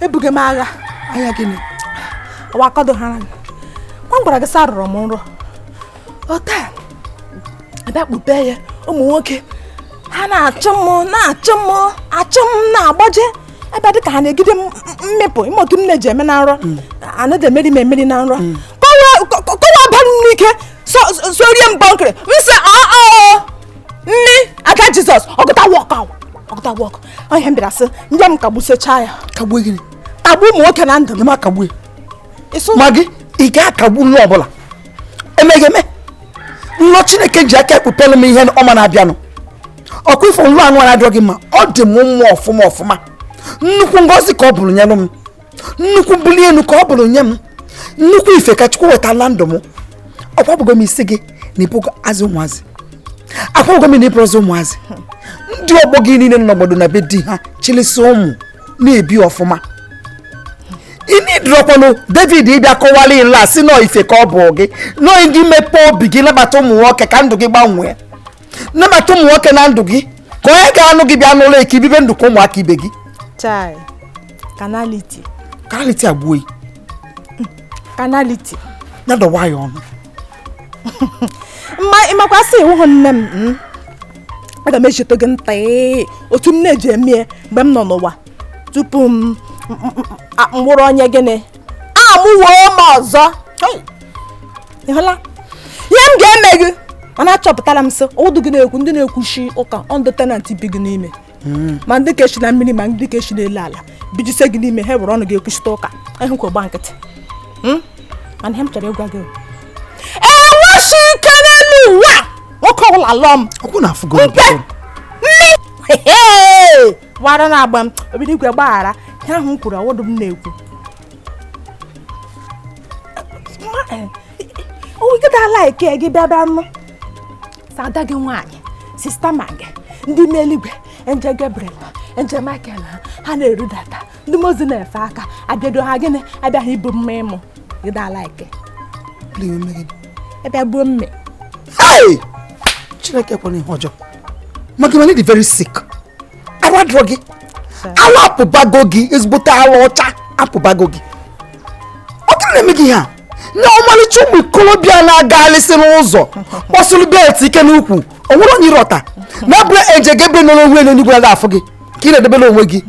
ebughị m agha anya gịnị ọwa akọdogharị m gwara gị sị arụrụ m nrọ ọta abịa kpube ya ụmụ nwoke ha na-achụ m na-achụ m achụ m na-agbaje ebe dịka ha na-egide m mịpụ mee otu m na-eji eme na nrọ mm. anaghị emeri m emeri na nrọ mm. kọwa aba n'ike sorie m bọnkịrị m sị ọọ nne aka Jizọs ọgụta wọk ahụ ọgụta wọk onye m bịara sị ndị m kagbusechaa ya kagbuo gịnị kagbuo ụmụ nwoke na ndụ m ma kagbuo ma gị ị ga-akagbu nlọ ọbụla ọ meghị eme nlọ chineke ji aka ekpupelu m ihe ọma na-abịanụ ọkwa ịfụ nlọ anụ na-adị gị mma ọ dị m mma ọfụma ọfụma nnukwu ngọzi ka ọ bụrụ nyelụ m nnukwu mbuli elu ka ọ bụrụ nye m nnukwu ife ka chukwu wetala ndụ m agwabugo m sị gị na ị bụrọzi ụmụazị agwabugo m na ị bụrọzi ụmụazị ndị ọgbọ gị niile nọ n'obodo na be di ha chịlịsị ụmụ na-ebi ọfụma ị needirọkwanụ David ịbịa kọwalụ ịla sị na ọ ife ka ọ bụ gị nọ gị mepee obi gị nabata ụmụ nwoke ka ndụ gị gbanwee nabata ụmụ nwoke na ndụ gị ka onye ga-anụ gị bịa nụlụ gị ka i bibe ndụ ka ụmụaka ibe gị carnality carnality egbuo carnality ya dọwa ya ọnụ ị makwa sị ị wụhụ nne m hmm? aga m echeta gị taa ee otu m na-eji eme ya mgbe m nọ n'ụwa tupu m m- m- a- m wụrụ onye gịnị amụwo m ọzọ Hey! Ị hụla ihe m ga-eme gị mana achọpụtara m sị ọ wụdụ gị na-ekwu ndị na-ekwuchi ụka wụ ndị tenant bi gị n'ime hmm. ma ndị ke shi na mmiri ma ndị ke shi n'elu ala bijise gị n'ime ha were ọnụ gị ekwuchite ụka ahụ kwa gba nkịtị hmm? mana ihe m chọrọ ịgwa gị enweghị ike n'elu ụwa nwoke ọbụla lụọ m mpe nne wara na-agba m obido igwe gbaghara ihe ahụ m kwuru ọ wụdụ m na-ekwu nkịta like gị bịa bịa nụ ada gị nwaanyị sista ma gị ndị ime eluigwe angel Gabriel angel Michael ha na-erudata ndị mmụọ ozi na-efe aka abịado ha gịnị abịaghị ibu mma ịmụ gị da like ebe gbuo mme Chineke ekwena ihe ọjọọ maka na ị dị very sick arụ adịrọ gị ala apụbago gị ezigbote ala ọcha apụbago gị ọ gịnị na-eme gị ha na ọmalịcha ụmụ ikolobịa na-agalịsị n'ụzọ kpọsịrị belt ike n'ukwu o nwere onye ị rọta na abụrọ angel gabriel nọ n'onwe elu n'igwe na-afụ gị ka ị na-edebere onwe gị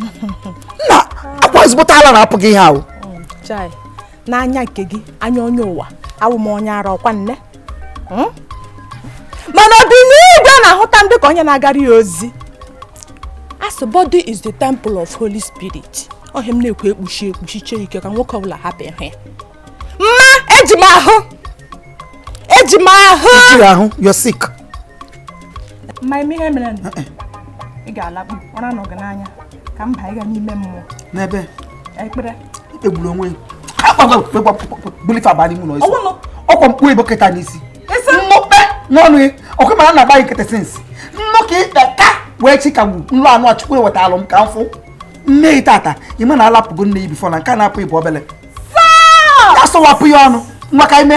na akwa ezigbote ala na-apụ gị ihe ahụ n'anya nke gị anya onye ụwa awụ m onye ara ọkwa nne hmm? mana obi n'igwe na-ahụta m dị ka onye na-agara ya ozi asị body is the temple of holy spirit ọ ihe m na-ekwu ekpuchi ekpuchi chee ike ka nwoke ọbụla hapụ ịhụ ya mma eji m ahụ eji m ahụ you're sick mma ị ma ihe mere eh, eh. ị ga-alakpu ụra nọ gị n'anya ka mba ịga n'ime mmụọ n'ebe ekpere ikpegburu onwe bulife abalị mụ n'ọsọ ọkwa mkpu ebo keta n'isi nnukpe n'ọnụ ya ọkụ mara na agbaghị nkịtị since nnụ ka ikpe ka wee chi ka gbu nlụ anụ achụkwu ewetalụ m ka m fụ nne yi tata ị ma na ala apụgo nne yi before na nke a na-apụ ị bụ obele ya sọwapụ ya ọnụ nwa ka ime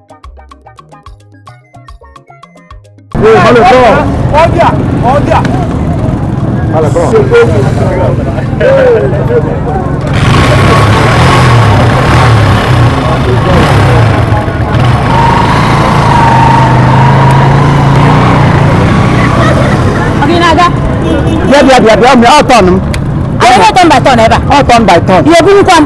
Ọ gị na-aga. bịa bịa bịa bịa bịa ọ turn m Anyị na turn by turn ebe a. ọ turn by turn Ihe obunikwa m.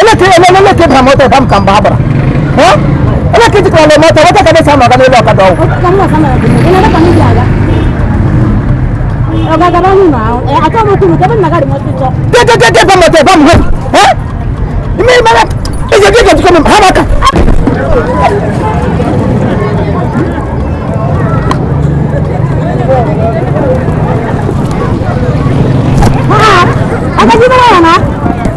eleke eleke eleke bara moto ba m ka mgbe a gbara Eh? eleke jikwara le moto wata ka na-esi anọga n'elu ọkada ọgwụ gegegege ba moto ba m hụ Eh? ị ma ị ma na ije gị ga-ejikọ m ha maka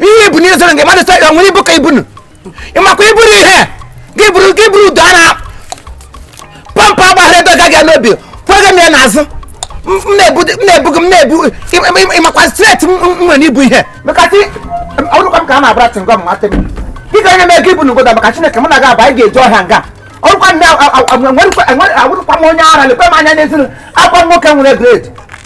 ihe ibu n'ihe zoro nke mmadụ sọ nwere ibu ka ibu nụ ịmakwa iburu ihe gị buru gị buru udo a na pampa agbaghara edoga gị n'obi kwega m ya n'azụ m na-ebu m na-ebu gị m na-ebu ịmakwa strength m nwere ibu ihe mekasị ọrụkwa m ka a na-abara tingọ m nwata m ị ga-enye m ego ibu n'ugoda maka chineke mụ na gị aba anyị ga-eji ọhịa nga ọ wụrụkwa m onye ara lekwe m anya n'ezi nụ akwa nwoke nwere grade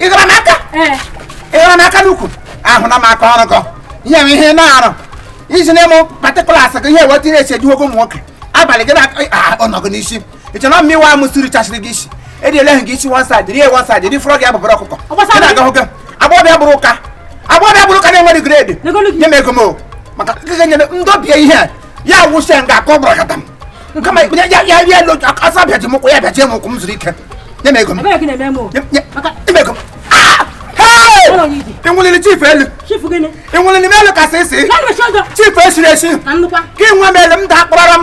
ị gara m aka ị gara m aka n'ukwu ahụna m aka ọrụ gọ ihe m ihe na-arụ iji na-eme particulars gị ihe weta ihe esi ejuwogo ụmụ nwoke abalị gị na-anọgụ n'isi ị chọrọ mma iwe amụ siri chasịrị gị isi edi eleghị gị isi one side rie one side edi fụrọ gị abụbara ọkụkọ gị na-agahụ gị agbọbịa bụrụ ụka agbọbịa bụrụ ụka na-enweghị grade nye m ego m maka ndị obie ihe a ya wụsị ya nga aka ọ bụrụ m nkama ya ya ya ya lo asa bịaji m ụkwụ ya bịaji m ụkwụ m zuru ike nye m ego m nye m ego m ah! iwulili chief elu iwulili m elu kasị isi chief esiri esi ka ị nwe m elu m daa kpọrọm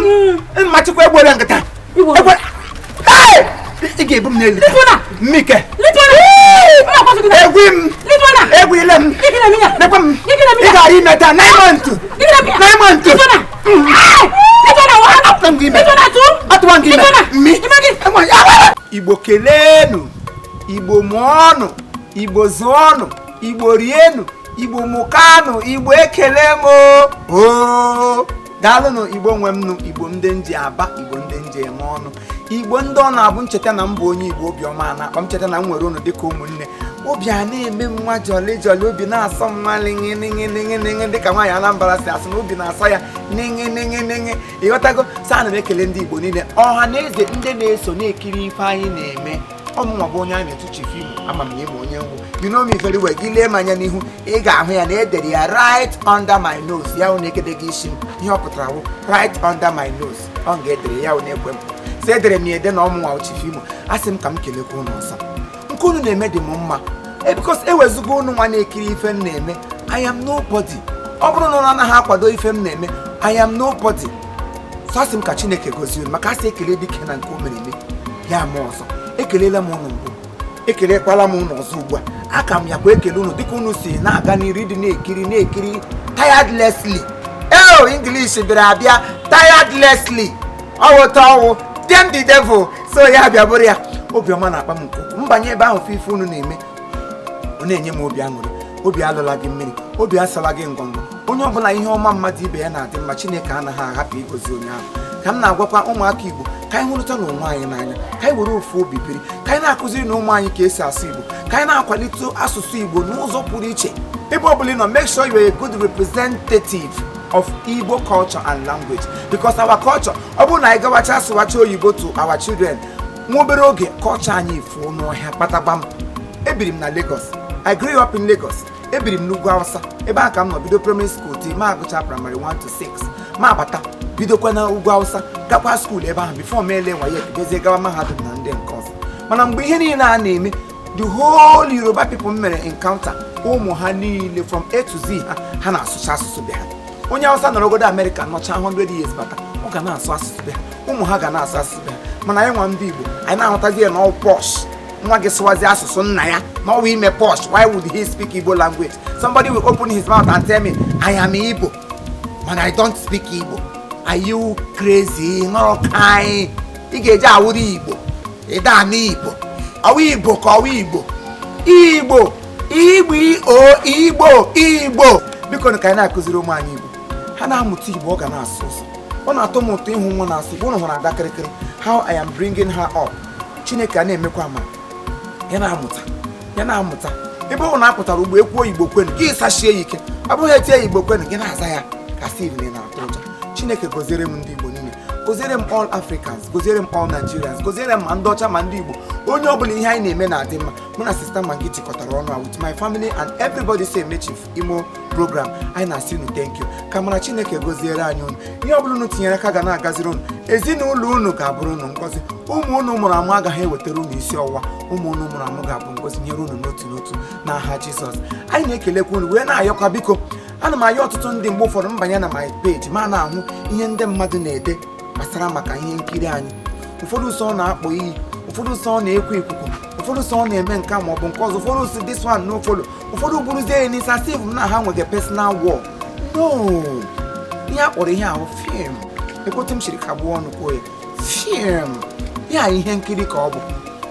mma chikwa egbuola nkịta ị ga-ebu m n'elu mmike egwu m egwu ile m nekwa m ị gara ime taa nine months nine months atụwa gị ime igbo keleenụ igbo mụọnụ igbo zụọnụ igbo rienụ igbo mụkanụ igbo ekele m o daalụnụ igbo nwe m nụ igbo ndị m ji aba igbo ndị m ji eme ọnụ igbo ndị ọ na-abụ m cheta na m bụ onye igbo obiọma a na-akpa m cheta na m nwere unu dịka ụmụnne obi a na-eme m nwa jọli jọli obi na-asọ m nwa lịṅị lịṅị lịṅị lịṅị dịka nwaanyị anambra si asị na obi na-asọ ya lịṅị lịṅị lịṅị ịghọtago so ana m ekele ndị igbo niile ọha na eze ndị na-eso na-ekiri ife anyị na-eme ọmụnwa bụ onye a na-etu chief Imo ama m na ị ma onye m wụ you know me very well gị lee m anya n'ihu ị ga-ahụ ya na edere ya right under my nose ya wụ na-ekede gị isi m ihe ọ pụtara wụ right under my nose ọ ga-edere ya wụ n'ekwe m so edere m ya ede na ọmụnwa bụ chief Imo asị m ka m kelekwa ụnụ o so nke unu na-eme dị m mma e, because ewezugo ụnụ nwa na-ekiri ife m na-eme I am nobody ọ bụrụ na ụnụ anaghị akwado ife m na-eme I am nobody so asị m ka chineke gozie unu maka asị ekele dike na nke o mere eme ya ma ọzọ ekelela m ụnụ mbụ ekelekwala m ụnụ ọzọ ugbu a aka m ya kwa ekele unu dịka unu si na-aga n'iru dị na-ekiri na-ekiri tiredlessly eo english bịara abịa tiredlessly ọwụta ọwụ dem the devil so ya bịa bụrụ ya obiọma na-akpa m nke ukwuu. m banye ebe ahụ fụ ife unu na-eme ọ na-enye m obi aṅụrị obi alọla gị mmiri obi asala gị ngọngọ onye ọbụla ihe ọma mmadụ ibe ya na-adị mma chineke anaghị ahapụ igozi onye ahụ ka m na-agwakwa ụmụaka igbo ka anyị hụrụta na onwe anyị n'anya ka anyị were ofu obi biri ka anyị na-akụziri na ụmụ anyị ka esi asụ igbo ka anyị na-akwalite asụsụ igbo n'ụzọ pụrụ iche ebe ọbụla ị nọ make sure you are a good representative of igbo culture and language because our culture ọ bụrụ na anyị gawacha asụwacha oyibo to our children nwa obere oge culture anyị efuo n'ọhịa kpatagbam ebiri m na Lagos I grew up in Lagos ebiri m n'ugwu awụsa ebe ahụ ka m nọ bido primary school till mụ agụcha primary 1 to 6 mụ abata bidokwa na ugwu awụsa gakwa school ebe ahụ before m ele waye bidozie gawa mahadum na ndị nke ọzọ mana mgbe ihe niile a na-eme the whole yoruba people m mere encounter ụmụ ha niile from a to z ha ha na-asụcha asụsụ be ha onye awụsa nọrọgodu America nọcha 100 years bata ọ ga na-asụ asụsụ be ha ụmụ ha ga na-asụ asụsụ be ha mana anyị nwa ndị igbo anyị na-ahụtazi ya na ọ posh nwa gị sụwazi asụsụ nna ya na ọwa ime posh why would he speak igbo language somebody will open his mouth and tell me i am igbo but i don't speak igbo are you crazy nọrọ ka anyị ị ga-eji awụrụ igbo ịda anụ igbo ọwụ igbo ka ọwụ igbo igbo o bikonụ ka anyị na-akụziri ụmụ anyị igbo ha na-amụta igbo ọ ga na-asọ ụsọ ọ na-atọ m ụtọ ịhụ nwa na-asụ igbo ụnụ hụrụ ada kịrịkịrị how i am bringing her up chineke a na-emekwa amara ya na-amụta ya na-amụta ebe ọwụna apụtara ọgbọ ekwuo igbo kwenu gị zasie ya ike ọ bụghị etie igbo kwenu gị na-aza ya ka a sịrị na ị na-atụ ụjọ chineke goziere m ndị igbo niile goziere m all africans goziere m all nigerians goziere m ma ndị ọcha ma ndị igbo onye ọ bụla ihe anyị na-eme na-adị mma mụ na sista maggi jikọtara ọnụ a with my family and everybody so eme chief imo program anyị na-asị unu thank you ka amara chineke goziere anyị unu ihe ọ bụla unu tinyere aka ga na-agaziri unu ezinụlọ unu ga-abụrụ unu ngọzi ụmụ unu mụrụ amụ agaghị ewetara unu isi ọwụwa ụmụ unu mụrụ amụ ga-abụ ngọzi nyere unu n'otu n'otu n'aha jizọs anyị na-ekelekwa unu wee na-ayọkwa biko ana m ayọ ọtụtụ ndị mgbe ụfọdụ m banye na my page ma na-ahụ ihe ndị mmadụ na-ede gbasara maka ihe nkiri anyị ụfọdụ sọ na-akpọ iyi ụfọdụ sọ na-ekwu ikuku ụfọdụ sọ na-eme nke a ma ọ bụ nke ọzọ ụfọdụ sị this one no follow ụfọdụ buruzie ya n'isi asị mụ na ha nwere personal war no ihe a kpọrọ ihe ahụ fim ekwetụ m chiri ka gbuo ọnụ kwuo ya fim ya ihe nkiri ka ọ bụ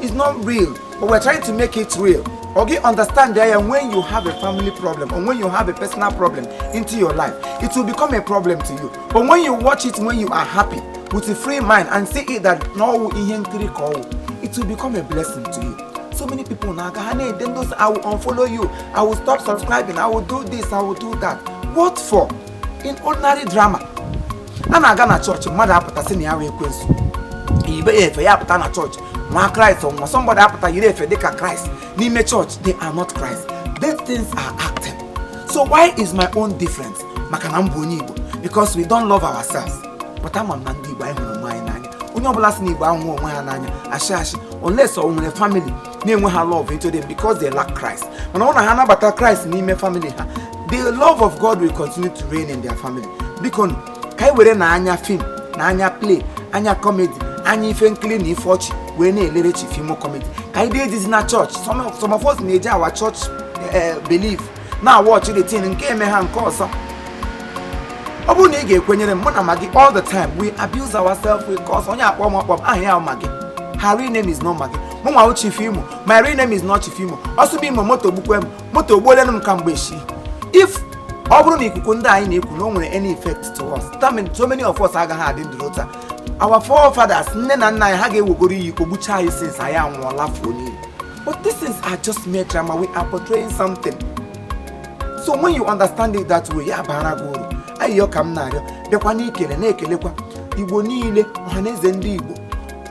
it's not real but we're trying to make it real ọ gị understand ya ya when you have a family problem or when you have a personal problem into your life it will become a problem to you but when you watch it when you are happy with a free mind and see it that na ọwụ ihe nkiri ka ọwụ it will become a blessing to you so many people na-aga ha na-ede ndị i will unfollow you i will stop subscribing i will do this i will do that what for in ordinary drama a na-aga na chọọchị mmadụ apụta sị na ya wụ ekwensu ibe ya efe ya apụta na chọọchị nwa kraịst or somebody apụta yiri efe dịka kraịst n'ime chọọchị they are not christ these things are acting so why is my own difference maka na m bụ onye igbo because we don't love ourselves but mana ndị Igbo anyị hụrụ onwe anyị n'anya onye ọbụla sị na Igbo ahụghị onwe ha n'anya asị asị unless ọ nwere family na-enweghị love into them because they lack Christ mana ọ na ha nabata Christ n'ime family ha the love of God will continue to reign in their family biko ka anyị were na anya fim na anya play anya comedy anya ife nkiri na ife ọchị wee na-elere Chief Imo comedy ka anyị dee ejizi na chọọchị some of us na-eji our chọọchị eh, believe na-awatch the thing nke eme ha nke ọzọ ọ bụrụ na ị ga-ekwenyere m mụ na maggi all the time we abuse ourselves we curse onye akpọ m ọkpọ m aha ya maggi her real name is not maggi mụ nwa chief imo my real name is not chief imo ọsụbụ imo moto gbukwe m moto ogbuolenu m kamgbe eshi if ọ bụrụ na ikuku ndị anyị na-ekwu na o nwere any effect to us that means so many of us agaghị adị ndụ taa our forefathers nne na nna anyị ha ga-ewegoro iyi kpọgbucha anyị since anyị anwụọla fuo n'iyi But these things are just mere drama. We are portraying something. So when you understand it that way, ya abaara gị uru. Ayịyọ ka m na-ayọ, bịakwa n'ikele na-ekelekwa Igbo niile, ọhaneze ndị Igbo,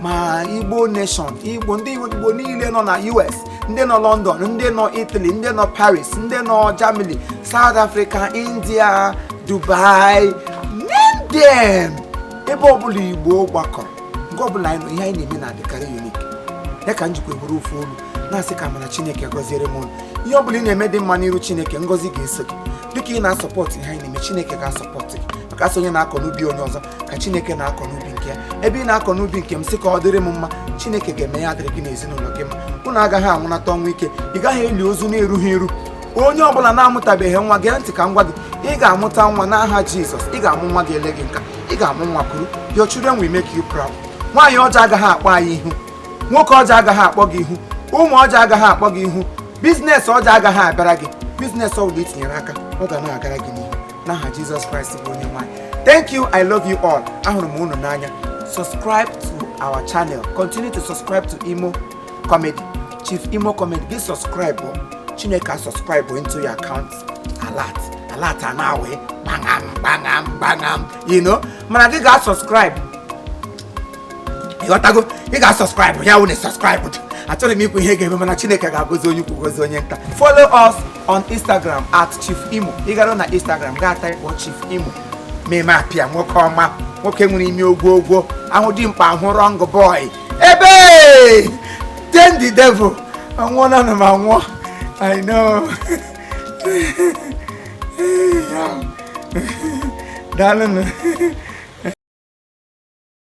ma Igbo nation, ndị Igbo niile nọ na US, ndị nọ London, ndị nọ Italy, ndị nọ Paris, ndị nọ Germany, South Africa, India, Dubai, name them. Ebe ọbụla Igbo gbakọrọ. nga ọ bụla anyị nọ ihe anyị na-eme na-adịkarị unique ya ka m jikwa eburu ofu olu na-asị ka amara chineke gọziere m unu ihe ọ bụla ị na-eme dị mma n'iru chineke ngọzi ga-eso gị dịka ị na-asọpọtụ ihe anyị na-eme chineke ga-asọpọtụ gị maka a sị onye na-akọ n'ubi onye ọzọ ka chineke na-akọ n'ubi nke ya ebe ị na-akọ n'ubi nke m sị ka ọ dịrị m mma chineke ga-eme ya adịrị gị na ezinụlọ gị mma unu agaghị anwụnata ọnwụ ike ị gaghị eli ozu na-erughị eru onye ọbụla na-amụtabeghị nwa gee ntị ka m gwa gị ị ga-amụta nwa n'aha jizọs ị ga-amụ nwa ga-ele gị nka ị ga-amụ nwa kuru your children will make you proud nwaanyị ọjọọ agaghị akpọ anyị ihu nwoke ọjọọ agaghị akpọ gị ihu ụmụ ọjọọ agaghị akpọ gị ihu biznes ọjọọ agaghị abịara gị biznes ọ bụla i tinyere aka ọ ga na-agara gị n'ihu n'aha jizọs kraịst bụ onye nwe anyị thank you i love you all ahụrụ m unu n'anya subscribe to our channel continue to subscribe to imo comedy chief imo comedy gị subscribe chineke asubscribe into your account alert alert anawe kpaṅam kpaṅam kpaṅam you know mana gị ga-asubscribe ị ghọtago ị ga-asubscribe ya wụ na subscribe achọghị m ikwu ihe ga-eme mana chineke ga-agọzi onye ukwu gọzi onye nta follow us on instagram at chief imo ị gara na instagram gaa type chief imo meme apịa nwoke ọma nwoke nwere ime ogwogwo ahụ dimkpa ahụ wrong boy ebe ten the devil anwụọ na anụ m anwụọ i know daalụ nụ